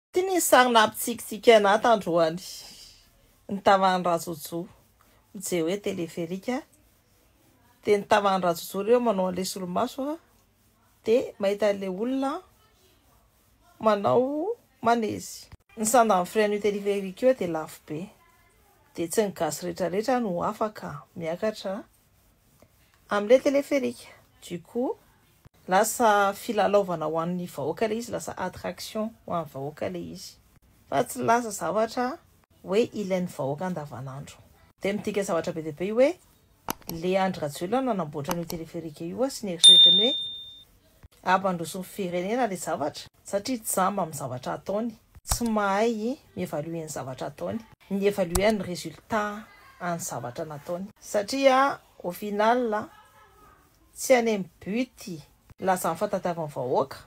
Ity ny sary nampitsikitsiky anah tandroany ny tavan'i Rajojo mijery hoe teleferika dia ny tavan'i Rajojo ireo manao an'ilay solomaso dia mahita an'ilay olona manao manezy. Ny sandan'ny frein io teleferika io dia lafo be dia tsy ny gasy retraretra no afaka miakatra Amle téléphérique. Du coup lasa filalaovana ho an'ny vahoaka le izy, lasa attraction ho an'ny vahoaka le izy. Fa tsy lasa zavatra hoe ilain'ny vahoaka andavanandro. Dia midika zavatra be dia be io hoe le Andry Rajoelina nanamboatra an'io téléphérique io sy ny eritreretiny hoe. Ampandrosoan'ny firenena ilay zavatra satria tsy jamba amin'ny zavatra ataony. Tsy mahay mi-evaluer ny zavatra ataony. Mi-evaluer ny résultat an'ny zavatra nataony. Satria au final tsy any amin'ny but lazan'ny fahatadiavan'ny vahoaka,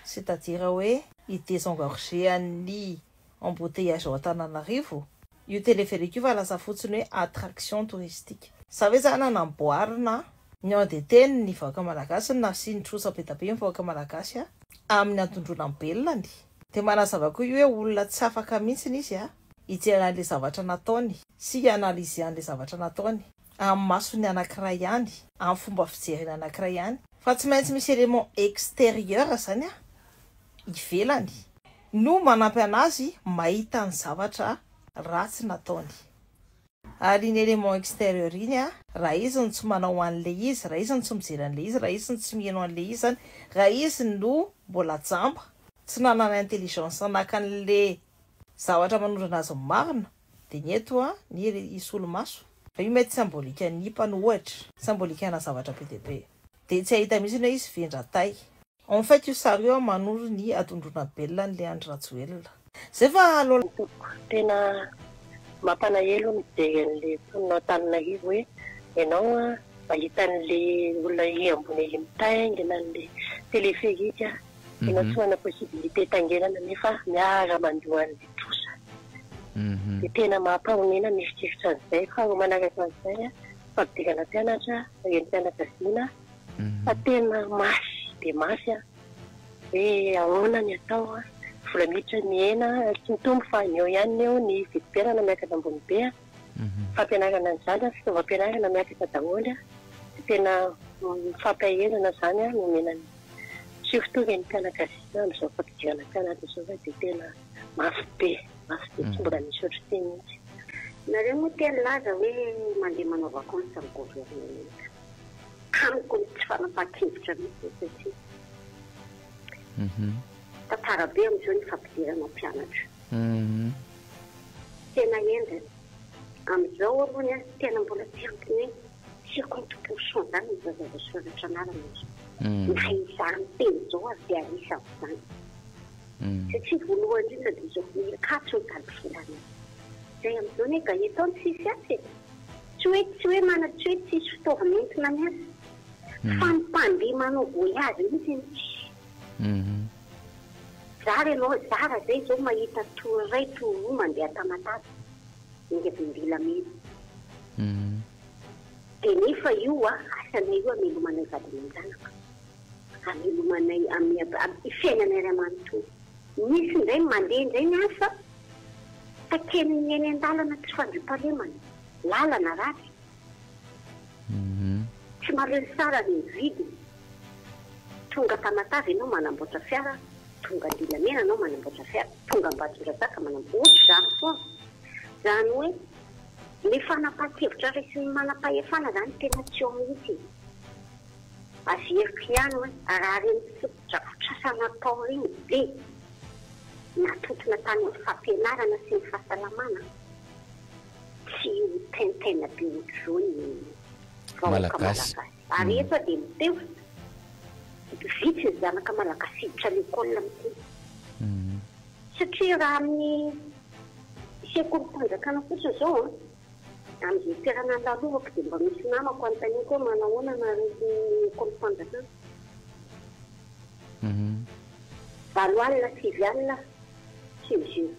c'est-à-dire hoe i désengorger an'ny embouteillage ao Antananarivo io téléphérique io fa lasa fotsiny hoe attraction touristique. Za ve zany hanamboarina a? Ny an de teny ny vahoaka malagasy no nasiany trosa be da be ny vahoaka malagasy a! Aminy antondroina ny belany. De manazava koa io hoe olona tsy afaka mintsiny izy a hijery anle zavatra nataony sy hi analyser anle zavatra nataony. amin'ny masony anankiray ihany, amin'ny fomba fijeriny anankiray ihany, fa tsy maintsy misy élément extérieur izany an, ivelany, no manampy an'azy mahita ny zavatra ratsy nataony. Ary iny élément extérieur iny an, raha izy no tsy manao an'ilay izy, raha izy no tsy mijery an'ilay izy, raha izy no tsy miheno an'ilay izy izany, raha izy no mbola jamba, tsy nanana intelligence naka an'ilay zavatra manondrana azy ny marina, Dia ny eto a, ny hisolomaso. Fa io mety symbolikan'ny hipa no ohatra. Symbolikana zavatra be dia be. Dia tsy hahita mihitsy ny hoe hisy vendra tay. En fait io sary io a manoro ny adondrona belona an'ilay Andry Rajoelina. Zay fa aleo. Ny tompoko, tena mampalahelo mijery an'le mponinao tany Nahivo hoe ianao a mahita an'le olona ery ambony ery mitaingina an'le téléphérique a. Tena tsy manana possibilité hitsanganana nefa miara mandoa an'ilay trosa. Dia tena mampahonena ny mieritreritra an'izay. Faharoa manaraka an'izay, fampidirana mpianatra, renim-pianakaviana, fa tena mafy dia mafy hoe ahoana ny atao. Vola miditra mihena, tsy mitombo fa ny eo ihany ny eo, ny vidim-piainana miakatra ambony be, fampianarana ny zanaka, fitaovam-pianarana miakatra daholo. Tena fampaherezana izany no omena ny. Tsy fitovy ny mpianakavina amin' izao fampidirana mpianatra izao fa dia tena mafy be, mafy be tsy mbola nisy ohatr'ity mihitsy. Nareo moa te nilaza hoe mandeha manao vacances amin'ny governementa. Amiko ny tsy fanapahan-kevitra mihitsy io satria tantara be amin'izao ny fampidirana mpianatra. Tena henjana. Amin'izao aloha ny ahy tena mbola tsy ampy mihitsy. Tsy compte-ko Sandra no voazava soratra anarana e. Na izany teny izao aza dia anisan'izany. Satria voalohany indrindra dia izao Mikato ny valivolana io. Izay amin'izao anie Gaëtan tsisy asa e. Tsy hoe tsy hoe mana tsy hoe tsisy fitaovana entina miasa. Fa ny mpandeha manao voyage mihitsy anie tsisy. Zara ianao, zara izay izao mahita tour iray, tour roa mandeha Tamatave. hevim-bilamina. Dia nefa io asanay io hamelomanay vady aman-janaka, hamelomanay amin'ny fiainanay iray manontolo. Misy indray mandeha indray ny asa, takian'ny eny an-dalana tsy fandriampahalemana, lalana ratsy. Tsy malemy tsara ny mividy. Tonga Tamatave ianao manamboatra fiara, tonga Andilamena ianao manamboatra fiara, tonga Ambatondrazaka manamboatra, ohatr'izany foana. Izany hoe ilay fanapahan-kevitra raisin'ny manam-pahefana izany tena tsy eo mihitsy e. Averiko ihany hoe raha ireny fotodrafitrasa natao ireny be natontona tany amin'ny fampianarana sy ny fahasalamana Tsy mitenitena be ohatr'izao ny vahoaka Malagasy. Ary eto aho dia miteho, vitsy ny zanaka Malagasy hiditra lekôly amin'ity. Satria raha amin'ny sekolim-panjakana fotsiny izao an, amin'izay toerana andalovako dia mba misy namako anontaniako hoe manahoana nareo ny ekolim-panjakana. Valo alina, sivy alina, sivy jours.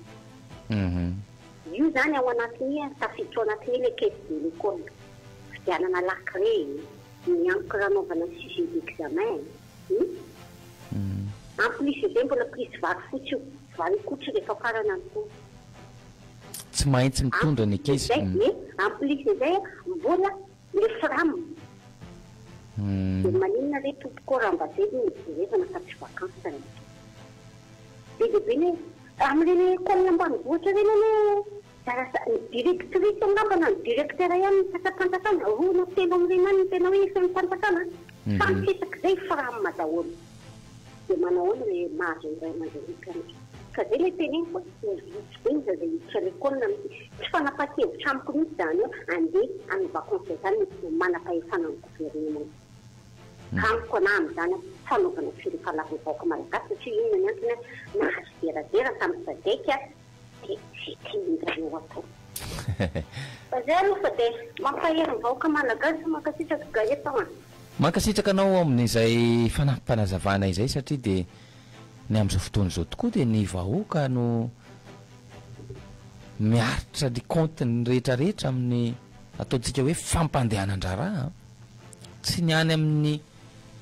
Io zany ao anatiny a, tafiditra ao anatiny le caisse de l'ecole. Fividianana lakile e, ny encre anaovana sujet d'examen e. Hum. En plus de zay mbola prise vary fotsy io, vary akohotra rehefa farana ny taona. Tsy mahintsy mitondra ny ankizy. En plus de zay, en plus de zay a, mbola Le fram. De maninona re tompoko raha mba zay no nojerevana fa tsy vacances ny aty. Be dia be ny hoe amin'ireny coin ambanivohitra ireny anie zara sa ny directrice angamba na ny directeur ihany no mpandrapanjakana, roa na telo amin'ireny ihany no tena hoe efa eo am-panjakana a. Samy tsy isak'izay fram daholo. Dia manahoana ilay mahazo ny ray aman-dreniny karetsaka? Ka izay ilay teneniko hoe ny vitsy be ny zaza hiditra lekôly na misiy. Tsy fanapahan-kevitra amiko mihitsy izany hoe andeha any vakansy izany ny tsy manam-pahefana ny governemanta. Amiko anahy amin'izany hoe fanaovana fiompana lava ny vahoaka malagasy satria inona ny antony hoe nahazo dera dera tamin'ny sadec Mankasitraka anao amin'izay fanampim-panazavana izay satria dia ny amin'izao fotoana izao tokoa dia ny vahoaka no miaritra ny kaontiny rehetra rehetra amin'ny ataontsika hoe fampandehanan-draharaha an! Tsy ny any amin'ny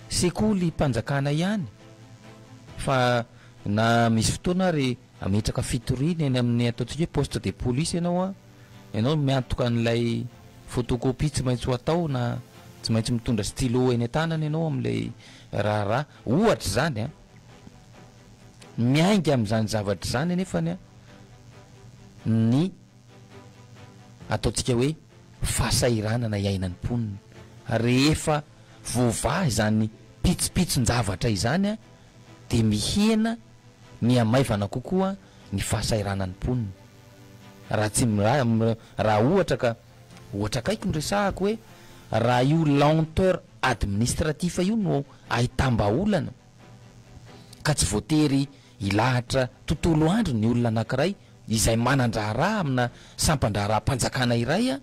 sekolim-panjakana ihany fa na misy fotoana ary Hametraka fitoriana eny amin'ny ataontsika hoe poste de police ianao an, ianao no miantoka an'ilay photocopie tsy maintsy ho atao na tsy maintsy mitondra stylo eny an-tanana ianao amin'ilay raharaha, ohatra izany an. Miainga amin'izany zavatra izany anefany an ny ataontsika hoe fahasahiranana iainan'ny mponina rehefa voavaha izany pitsopitson-javatra izany an. dia mihena mihamaivana kokoa ny fahasahiranan'ny mponina. Raha tsy raha ohatra ka, ohatra akaiky no resahako hoe raha io lenteur administratif io no ahitam-bahaolana ka tsy voatery hilahatra tontolo andro ny olona anankiray izay manan-draharaha amina sampan-draharaham-panjakana iray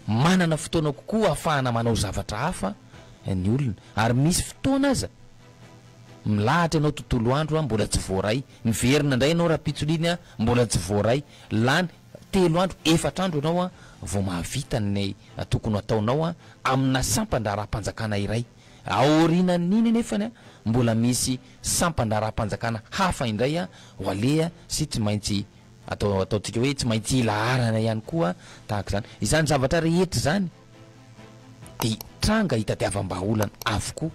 Manana fotoana kokoa ahafahana manao zavatra hafa ny olona. Ary misy fotoana aza, milahatra ianao tontolo andro, mbola tsy voaray. Miverina indray ianao rahampitso-liny, mbola tsy voaray. Lany telo andro, efatra andro ianao vao mahavita ny tokony ho ataonao amina sampan-draharaham-panjakana iray. Aorianan'iny anefa, mbola misy sampan-draharaham-panjakana hafa indray ho aleha sy tsy maintsy Atao ataontsika hoe tsy maintsy ilaharana ihany koa tahaka izany. Izany zavatra rehetra izany dia tranga hitadiavam-bahaolana avokoa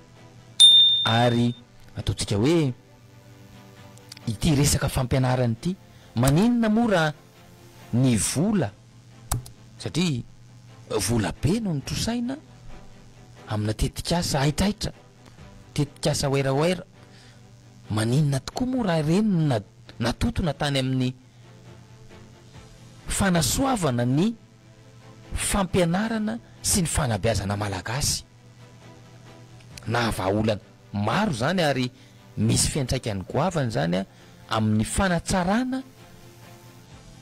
ary ataontsika hoe ity resaka fampianarana ity, maninona moa raha ny vola, satria vola be no notrosaina amina tetikasa haitraitra. tetikasa Werawera, maninona tokoa moa raha ireny no natontona tany amin'ny fanasoavana ny fampianarana sy ny fanabeazana malagasy? Nahavahaolana maro izany ary misy fiantraikany goavana izany amin'ny fanatsarana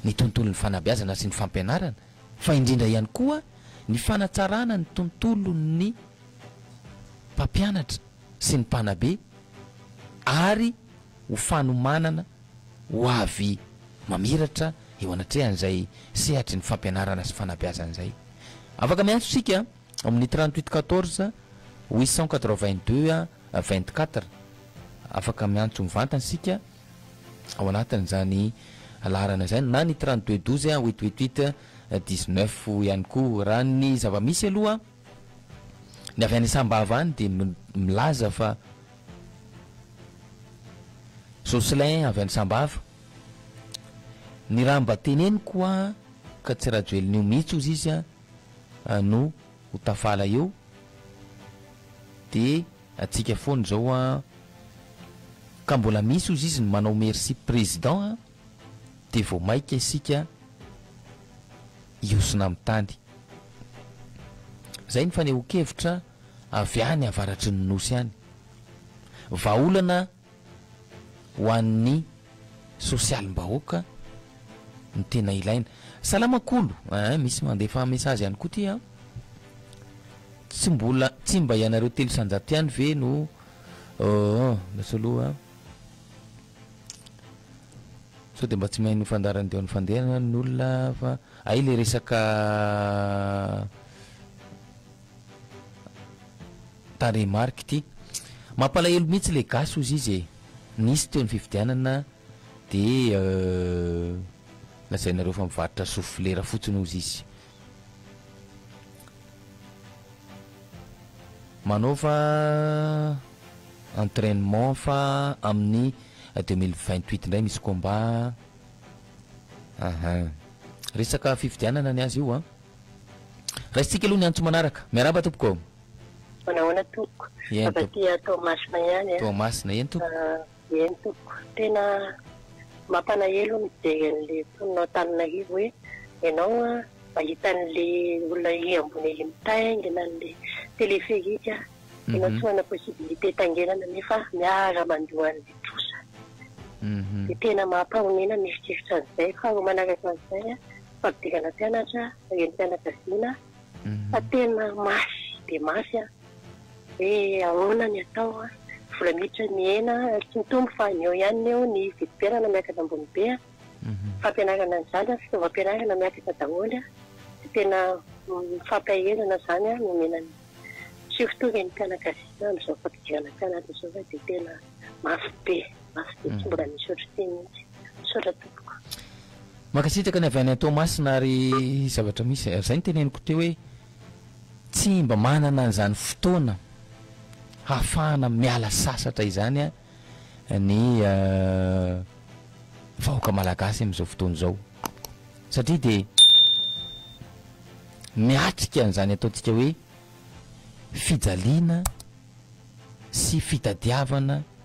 ny tontolon'ny fanabeazana sy ny fampianarana fa indrindra ihany koa ny fanatsarana ny tontolon'ny mpampianatra sy ny mpanabe ary ho fanomanana ho avy mamiratra eo anatrehan'izay sehatry ny fampianarana sy fanabeazana izay. Afaka miantso isika amin'ny trente huit quatorze huit cent quatre vingt deux vingt quatre. Afaka miantso mivantana isika ao anatin'izany laharana izany na ny trente deux douze huit huit huit dix neuf ihany koa raha ny zava-misy aloha. Ny avy any Sambava any dia milaza fa Jocelyn avy any Sambava, ny raha mba teneniko hoa ka tsy Rajoelina io mihitsy ozy izy no ho tafala eo dia antsika foana izao hoa ka mbola misy ozy izy ny manao merci président a! dia vao maika isika hiosona amin'ny tany. Izay ny fanehoan-kevitra avy any avaratry ny Nosy any. Vahaolana ho an'ny sosialim-bahoaka no tena ilaina. Salama Kolo eh, misy mandefa message ihany koa ity an. Tsy mbola, tsy mba ianareo telo isan-jato ihany ve no, ooh, lasa aloha. Sao dia mba tsy mahay ny fandaharan'ny diaon'ny fandeha angamba ny olona fa hay ilay resaka tarehimarika ity. Mampalahelo mihitsy ilay gasy hozy izy e. Nisy teo ny fifidianana dia lazainareo fa mivarotra sofilera fotsiny hozy izy. Manaova entrainement fa amin'ny deux mille vingt huit indray misy combat aha resaka fifidianana ny azy io an raisintsika aloha ny antso manaraka miarahaba tompoko Manao ahoana tompoko? Eny, Afa-tsy Toamasina ihany an. Toamasina eny tompoko. Eny tompoko, tena mampalahelo mijery an'ilay mponinao tany Naivo hoe ianao mahita an'ilay olona ery ambony ery mitaingina an'ilay téléphérique, ianao tsy manana possibilité itaingenana nefa miara mandoa an'ilay trosa. Dia tena mampahonena mieritreritra an'izay. Faharoa manaraka an'izay, fampidirana mpianatra, renim-pianakaviana, Fa tena mafy dia mafy an! Hoe ahoana ny atao an! Vola miditra mihena an! Tsy mitombo fa ny eo ihany ny eo ny vidim-piainana miakatra ambony be an! Fampianarana ny zaza an! Fitaovam-pianarana miakatra daholo an! Dia tena fampaherezana izany an! Nomena ny tsy ho tonga ny mpianakaviana amin'izao fampidirana mpianatra izao fa dia tena mafy be! Asa dia tsy mbola nisy ohatr'ity mihitsy. Misaotra tompoko. Mankasitraka ny avy any Toamasina ary zavatra misy ary izay ny teneniko teo hoe tsy mba manana an'izany fotoana hahafahana miala sasatra izany ny vahoaka malagasy amin'izao fotoana izao satria dia miatrika an'izany ataontsika hoe fijaliana sy fitadiavana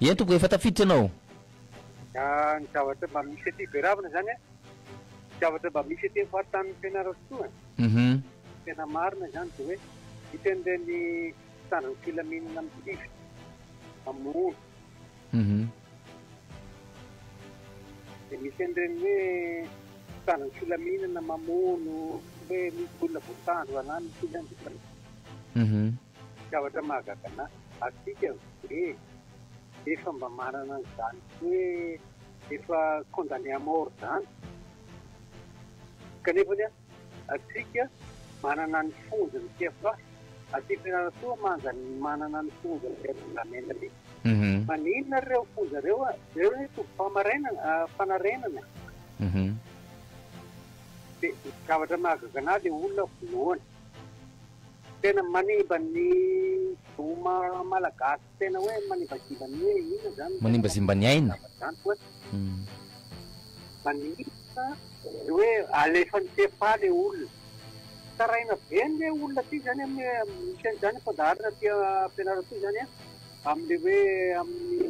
Eny tompoko efa tafiditra ianao. Ah, ny zavatra mba misy aty Beravina izany an, ny zavatra mba misy aty amin'ny faritanin'i Fianarantsoa an, Mhm. tena marina izany dia hoe hitan'ireny mpitandro ny filaminana mitifitra amin'ny olo, Mhm. dia misy an'ireny hoe mpitandro ny filaminana mamono hoe misy olona voatandro na misy olona Mhm. Zavatra mahagaga anah, antsika ve efa mba manana an'izany hoe efa condamné à mort izany? Kanefany an, antsika manana ny fonja ny fiafafy, aty Fianarantsoa manga manana ny fonja ny fiarovana ny aina aty. Maninona ary ireo fonja ireo an? Ireo anie tobim-pamarainana, fanarenana e! Dia ny zavatra mahagaga anah dia olona vonoana. Tena manimba ny zoma malagasy tena hoe manimbazimba ny hoe inona zany ny tena Manimbazimba ny aina. zavatra zany koa manimba ny hoe alefany tsy efa le olona tsaraina be ny olona aty zany a misy an'izany zany fandaharana aty Fianarantsoa izany a amle hoe amin'ny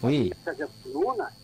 Hoe. Aza vonoina.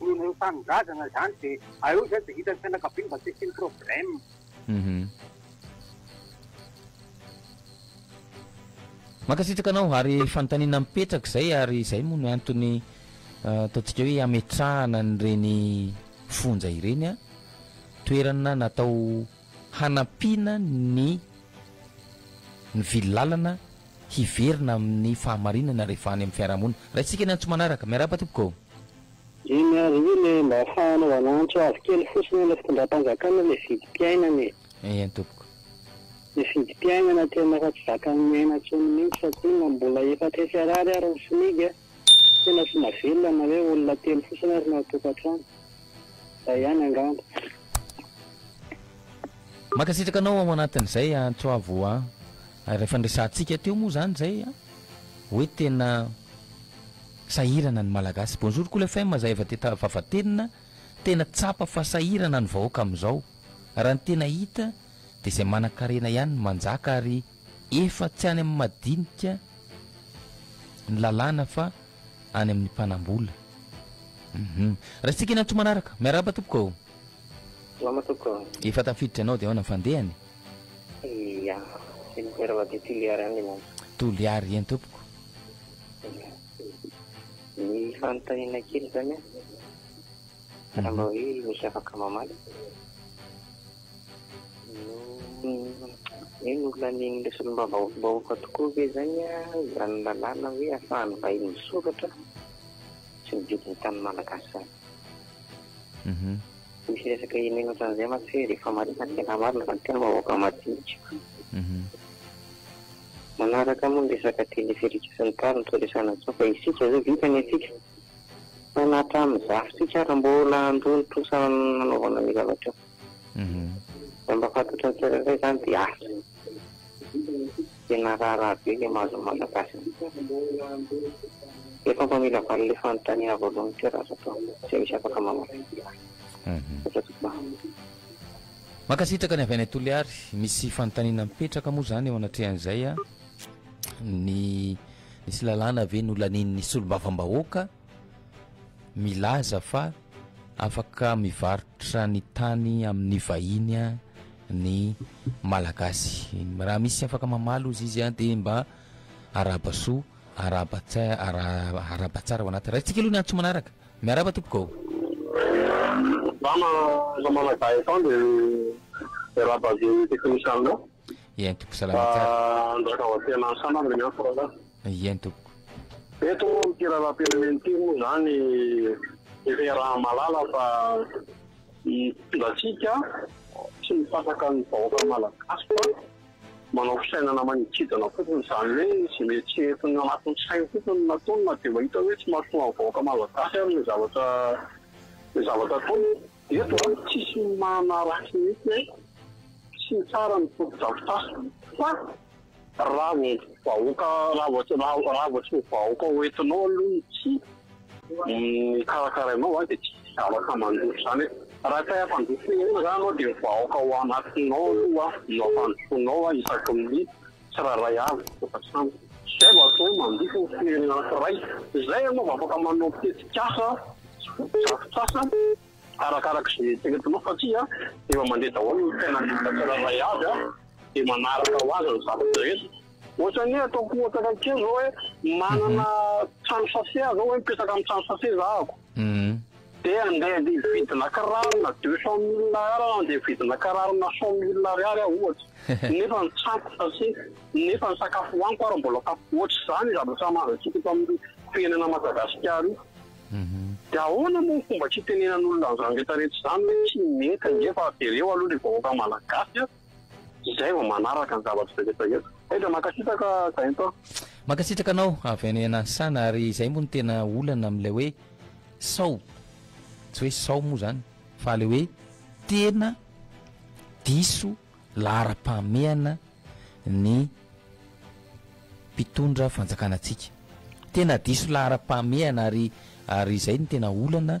Ny ireo tanindrazana zany de aeo zay de hitan'ny fianakaviany mba tsy asiany problème. Hum. Mankasitraka anao ary fanontaniana mipetraka izay ary izay moa no antony ataontsika hoe ametrahana an'ireny fonja ireny a toerana natao hanampiana ny ny vily lalana hiverina amin'ny fahamarinana rehefa any amin'ny fiarahamonina. Raisitsika ny antso manaraka. Miarahaba tompoko. Eny ary io le mba afahanao anantso azy kely fotsiny ilay fitondram-panjakana ilay vidim-piainana e. Eny tompoko. Ilay vidim-piainana tena efa tsy zakan'ny miaina intsony mihintsy fa koa inona mbola efatra hetsy arary ary ny smic a! Tena tsy mavelona na hoe olona telo fotsiny ary ny ao an-tokantrano. Izay ihany angamba. Mankasitraka anao ao anatin'izay an Toavo an! Ary ilay fandresantsika teo moa izany izay an! Hoe tena. Sahirana ny Malagasy. Bonjour Cool FM za efa teta vavatenina tena tsapa fa sahirana ny vahoaka amizao raha ny tena hita de zay manankarena ihany no manjaka ary efa tsy any am madinika ny lalàna fa any amin ny mpanambola hum raisitsika eny antsoa manaraka miarahaba tompoko ô. Salama tompoko ô. Efa tafiditra ianao de aona fandehany e. Ia, Senateur Madio Toliary any ianao. Toliary eny tompoko. Ny fanontaniana kely zany an, raha mba hoe misy afaka mamaly, hoe nolanin'ilay solombavambahoaka tokoa ve zany izany lalàna hoe ahafahan'ny vahiny misoratra sy mividy ny tany malagasy zany? Misy resaka henena ohatran'izay mantsy hoe rehefa marina ny tena marina fa ny tena vahoaka madinika. Manaraka moa ny resaka teleferika sy ny tariny tsy resahana intsony fa isika izao vita ny antsika fa na hatramin'ny zafintsika ary mbola handoa ny trosa hanaovana an'io zavatra io. Raha mba fantatry ny tsirairay izany dia asa. Tena raharaha be ilay mahazo an'i Malagasy an. Efa mba mila valiny ilay fanontaniana voalohany teo raha azo atao. Tsy misy afaka mamaly. Aza tompoko an. Mankasitraka ny avy any Toliary. Misy fanontaniana mipetraka moa zany eo anatrehan'izay a, ny nisy lalàna ve nolanian'ny solombavambahoaka milaza fa afaka mivarotra ny tany amin'ny vahiny a ny Malagasy? Raha misy afaka mamaly ozy izy a dia mba arahaba soa, arahaba tsair- ara- arahaba tsara ao anaty. Raisitsika aloha ny antso manaraka. Miarahaba tompoko ô! Za ma namana Gaëtan de miarahaba avy eo technician nao. Eny tompoko salama tsara. Fa andraka ao atsena any sanany ny antso rahalahy. Eny tompoko. Eto moa amin'ity lalam-pirenena ity moa zany efa iaraha-mahalala fa ny fitondratsika tsy mifandraka ny vahoaka malagasy fa. Manao fisainana manidintsidina fotsiny izany hoe izay mety tsy entiny anatin'ny sainy fotsiny no nataony na dia mahita hoe tsy mahasoa ny vahoaka malagasy ary ilay zavatra ilay zavatra ataony. Eto a, tsisy manaratsy mihitsy hoe tsy tsara ny fotodrafitrasa fa raha vao vahoaka raha vao tsy raha vao tsy ny vahoaka hoentinao aloha ny tsihy Ny karakarainao zany dia tsy misy zavatra mandroso zany hoe raha tsy hay hampandroso firenena zany anao dia ny vahoaka ao anatinao aloha no hampandrosoanao a isaky ny tsirairay avy efa sampy zay vao atao hoe mandroso ny firenena anankiray zay ianao vao afaka manao tetikasa fotodrafitrasa arakaraka izay eritreretinao fa tsy a efa mandeha daholo ny fiainan'ny olona tsirairay avy a dia manaraka ho azy ny zavatra rehetra. Ohatrany hoe ataoko ohatra kely zao hoe manana trano sase aho zao hoe mipetraka amin'ny trano sase zahako. Dia handeha andeha hividina kiraro na deux cent mille Ar na andeha hividina kiraro na cent mille Ariary aho ohatra. Nefa ny tranoko sase, nefa ny sakafo hohaniko ary mbola sase. Ohatr'izany ny zavatra mahazantsika eto amin'ny firenena Madagasikara io. Dia ahoana moa ny fomba tsy hitenenan'olona an'izany rehetra rehetra izany hoe tsy mety ange fa jereo aloha ilay vahoaka malagasy a! Izay vao manaraka ny zavatra rehetra eto. Aiza mankasitraka Zainto a. Mankasitraka anao avy any Anasana ary izay moa no tena olana amin'ilay hoe sao, tsy hoe sao moa izany fa ilay hoe tena diso laharam-pahamehana ny mpitondra fanjakana antsika, tena diso laharam-pahamehana ary ary izay no tena olana.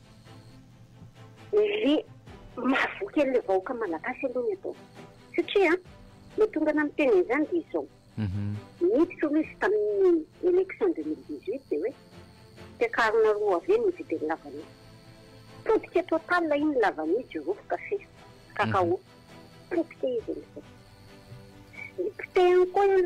Le mahavoa kely le vahoaka malagasy aloha ny atao. Satria an, mahatonga anah miteny an'izany dia izao, niditra aloha izy tamin'ny élection deux mille dix huit dia hoe mpiakarina roa avy eny mividy an'i Lavania. Potika total iny Lavania, jirofo, kafe, cacao. Potika izy amin'izay. Dia potehiny koa io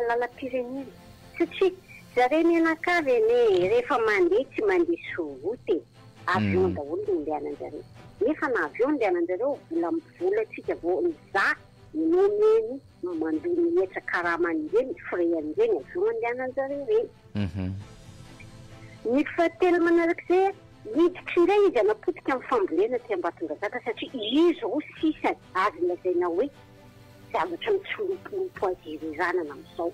lalam-pirenena. Satria zareo mianakavy anie rehefa mandeha tsy mandeha sur route e. Avion daholo no andehanan-jareo. Nefa na avion no andehanan-jareo, vola, volantsika vao mizaha ny nomeny mandoa ny hetra karama an'ireny frais an'ireny avion andehanan-jareo ireny. Ny fahatelo manarak'izay a, hiditra indray izy hanapotika amin'ny fambolena aty Ambatondrazaka satria izy roa sisa azo lazaina hoe zavatra mitsilopilopy ho azy ireranana amin'izao.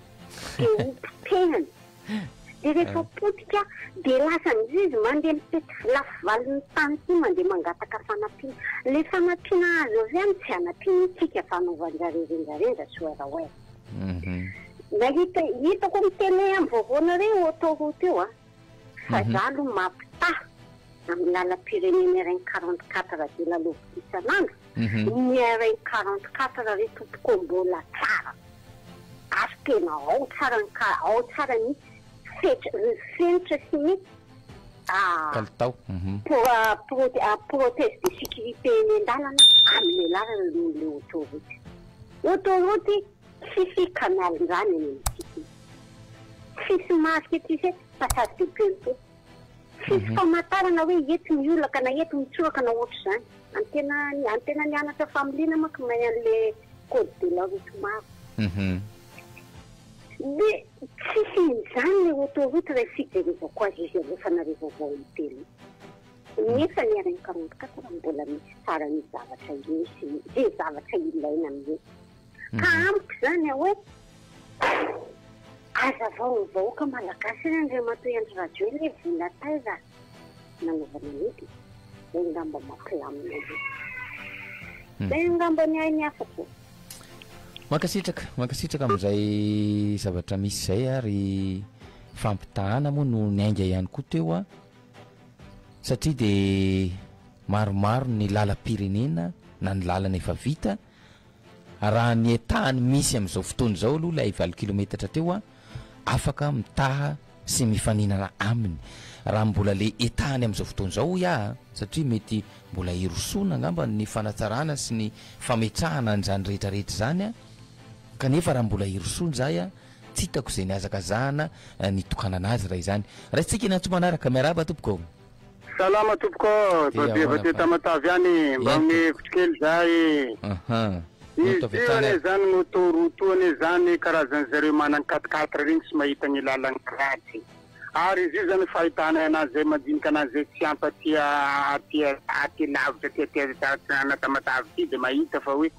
Dia ho potehana. Dia rehefa potika dia lasa amin'izay izy mandeha mitety lafy valin'ny tany sy mandeha mangataka fanampiana. Ilay fanampiana azo avy any tsy hanampiana ny tsika fanaovan-dRareo renjarenja swear where. Nahita hitako amin'ny télé amin'ny vaovaonareo autoroute io an. Fa za aloha mampitaha amin'ny lalam-pirenena RN quarante quatre dia lalaoviko isan'andro. Une heure et quarante quatre ry tompoko mbola tsara ary tena ao tsara ny ka ao tsara ny fetra ny fenitra sy ny Kalitao protège de sécurité eny an-dalana amelàrana aloha ilay autoroute autoroute tsisy canal-ndrano eny amin'ny sisiny tsisy marque tsisy passage de piéton Tsisy famantarana hoe eto ny olona ka na eto mitsoraka na ohatr'izany. Any tena any tena nianatra familiana manko may an'le code de la route maro. Hum. De tsisy injany le autoroute raha fijerevako azy izy aloha fa nareo vaovao ny tele nefa ny rn quarante quatre mbola misy tsara ny zavatra ireo sy ny ze zavatra ilaina amin'io Ka mhm. amiko izany hoe azavao ny vahoaka malagasy hoe Andriamatoa Andry Rajoelina hoe vola taiza nanaovana an'ity dia ngamba mampilamina io. Mhm. Dia ngamba ny ainy hafa koa. Mankasitraka, mankasitraka amin'izay zavatra misy izay ary fampitahana moa no ny ainga ihany koa teo a satria dia maromaro ny lalam-pirenena na ny lalana efa vita Raha ny état-ny misy amin'izao fotoana izao aloha ilay valo kilometatra teo a, afaka mitaha sy mifaninana aminy. Raha mbola le état-ny amin'izao fotoana izao hoy aho a, satria mety mbola hirosoana angamba ny fanatsarana sy ny fametrahana an'izany rehetra rehetra izany a, kanefa raha mbola hirosoana izahay a, tsy hitako izay nihazakazahana nitokanana azy raha izany. Raisintsika ny antso manaraka. Miarahaba tompoko. Salama tompoko, babe avy aty Tamatave any, mba omeo hevitra kely za e. Aha. Izy io anie zany moto route io anie zany karazan'ny zareo manan'ny quatre quatre reny tsy mahita ny lalan'ny kratsy. Ary izy io zany fahitanay anazy zay mandinika anazy zay tsy ampy aty aty aty lavitra aty aty aty ana Tamatave aty de mahita fa hoe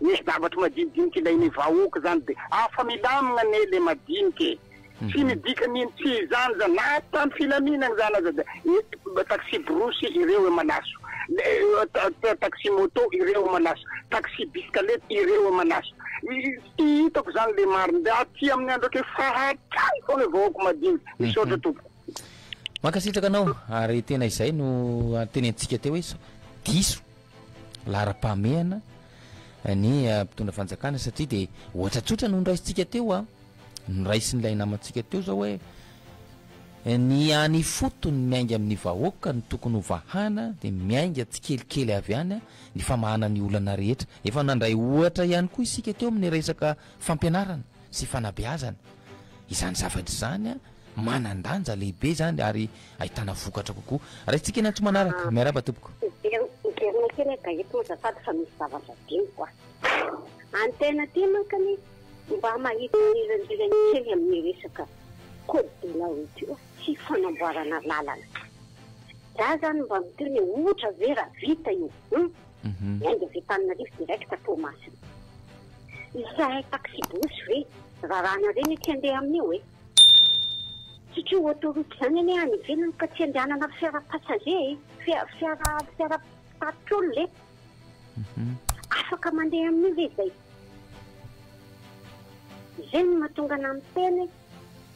Misy zavatra madinidinika ilain'ny vahoaka izany dia afa milamina anie ilay madinika e! Tsy midika ny inona, tsy izany izany, na ato tamin'ny filaminana izany aza dia ny taxi-brousse ireo e malaso, ny taxi-moto ireo e malaso, taxi-bisikaleta ireo e malaso. Tsy hitako izany ilay marina, dia aty amin'ny andro efa hatrany foana ny vahoaka madinika. Misaotra tompoko. Mankasitraka anao, ary tena izay no tenenintsika teo hoe diso. laharam-pahamehana ny mpitondra fanjakana satria dia ohatra tsotra no noraisintsika teo a noraisin'ilay namantsika teo zao hoe ny any ifotony miainga amin'ny vahoaka ny tokony ho vahana dia miainga tsikelikely avy any a ny famahana ny olana rehetra efa nandray ohatra ihany koa isika teo amin'ny resaka fampianarana sy fanabeazana izany zavatra izany a manan-danja lehibe izany ary Ahitana vokatra kokoa. Raisintsika eny antso manaraka. Miarahaba tompoko. Miverina miverina kely eda eto azafady fa misy zavatra adinoko a! Any tena aty manko anie mba mahita mirandrirany kely amin'ny resaka code de la route io sy fanamboarana lalana. Za zany mba miteny hoe ohatra ve raha vita io hum! Ny ainga avy Antananarivo direct Toamasina. Izahay taxi-brousse ve rarana reny aty andeha amin'io e! Satria ho autoroute izany anie any ivelany ka tsy andehanana fiara passager e, fiara fiara fiara mpitatitra olona e. Afaka mandeha amin'io ve izay? Izay no mahatonga anah miteny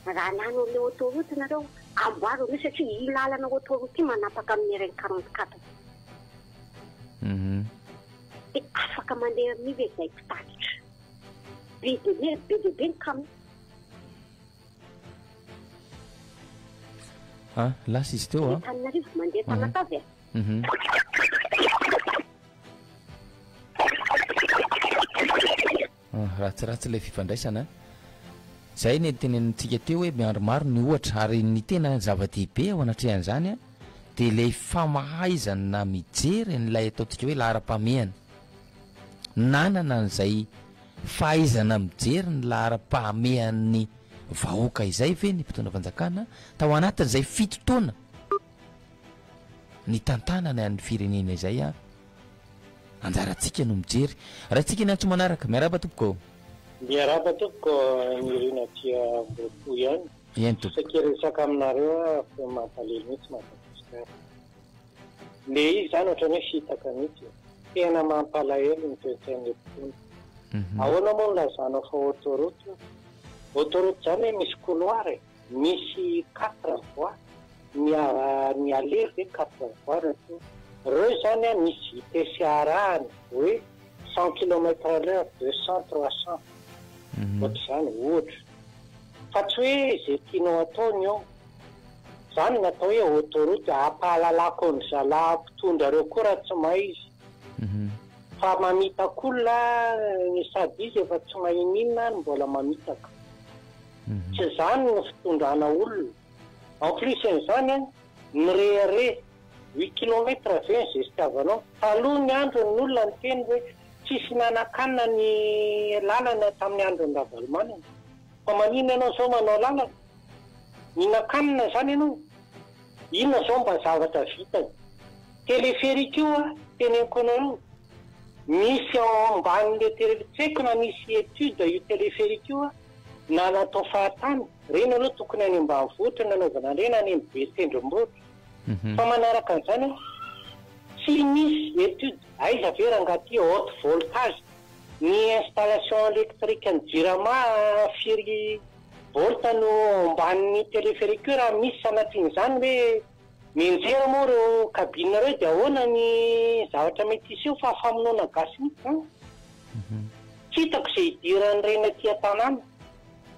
hoe raha lany an'ilay autoroute nareo amboaro an'io satria io lalana autoroute io manapaka amin'ny RN quarante quatre. Dia afaka mandeha amin'io ve izay mpitatitra? Be dia be, be dia be ny camion. A, lasa izy teo a. Antananarivo, mandeha Tamatave a. Mhm. Ah, ratsiratsy ilay fifandraisana. Izay ny tenenintsika teo hoe miandry maro ny ohatra ary ny tena zava-dehibe ao anatrehan'izany dia ilay famahaizana mijery an'ilay ataontsika hoe laharam-pahamehana. Nanana an'izay Fahaizana mijery ny laharam-pahamehan'ny vahoaka izay ve ny mpitondra fanjakana tao anatin'izay fito taona nitantanany an'ny firenena izay an? Anjarantsika no mijery. Raintsika ny antso manaraka. Miarahaba tompoko. Miarahaba tompoko, Nirina Tia Ambohipo ihany. Eny tompoko. Saika hiresaka aminareo aho fa mampalahelo mihitsy Madagasikara. Le izy zany otrany hoe fitaka mitsy e. Tena mampalahelo ny toetsain'le mpitondra. Ahoana moa no lazanao fa autoroute io? Autoroute zany hoe misy couloir e? Misy quatre voies? Ny aller ve quatre voies no tonga? Reo zany an misy vitesse arahany hoe cent kilomètre à l'heure, deux cents, trois cents. Ohatr'izany ohatra. Fa tsy hoe ze tianao atao ny eo. Zany no atao hoe autoroute hampahalalako an-dry zalahy mpitondra reo koa raha tsy may izy fa mamitaka olona sady izy efa tsy mahay n'inona ary mbola mamitaka tsy zany no fitondrana olona en plus n'izany an mirehareha huit kilomètre ve ny zestiavanao taloha ny andro ny olona niteny hoe tsisy nanakanina ny lalana tamin'ny andron'ny ravalomanana fa maninona ianao zao manao lalana Mihinan-kanina zany ianao? Inona zao mba zavatra vitany? Téléphérique io ah teneniko anareo, misy ao amban'le tele, tsy haiko na misy étude io téléphérique io ah na natao fahatany, reny aloha tokony any ambanivohitra no anaovana an'ireny, any amin'ny be tendrombohitra fa manaraka an'izany ah tsy misy étude, aiza ve rangaha ty haute voltage, ny installation électrique an'i jirama firy Borta no ao ambanin'ny téléphérique raha misy sanatrian'izany hoe mianjera moa ireo cabine ireo dia ahoana ny zavatra mety hiseho fa famonoana gasy mihitsy izany. Tsy hitako izay hidiran'ireny aty an-tanàna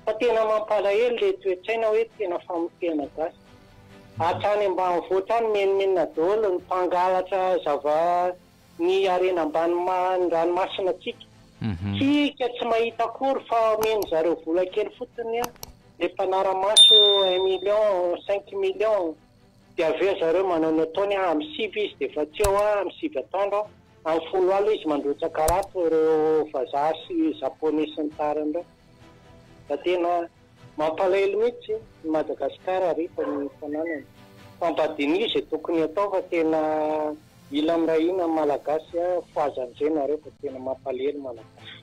fa tena mampalahelo ilay toe-tsaina hoe tena famotehana gasy. Hatrany ambanivohitra any menomenona daholo ny mpangalatra zava ny harena ambany ranomasina antsika. Tsika tsy mahita akory fa omeny zareo vola kely fotsiny le mpanaramaso un million cinq million de avy eo zareo manao ny ataony an am sivy izy de efa tsy eo am sivy atoandro an am folo alina izy mandrotsa karato reo vazaha sy japonais sy ny tariny reo fa tena Mampalahelo mihitsy ny Madagascar ary efa ny fananany. Fampadinia izay tokony atao fa tena Mila miray hina ny malagasy a foazandrenareo fa tena mampalahelo malagasy.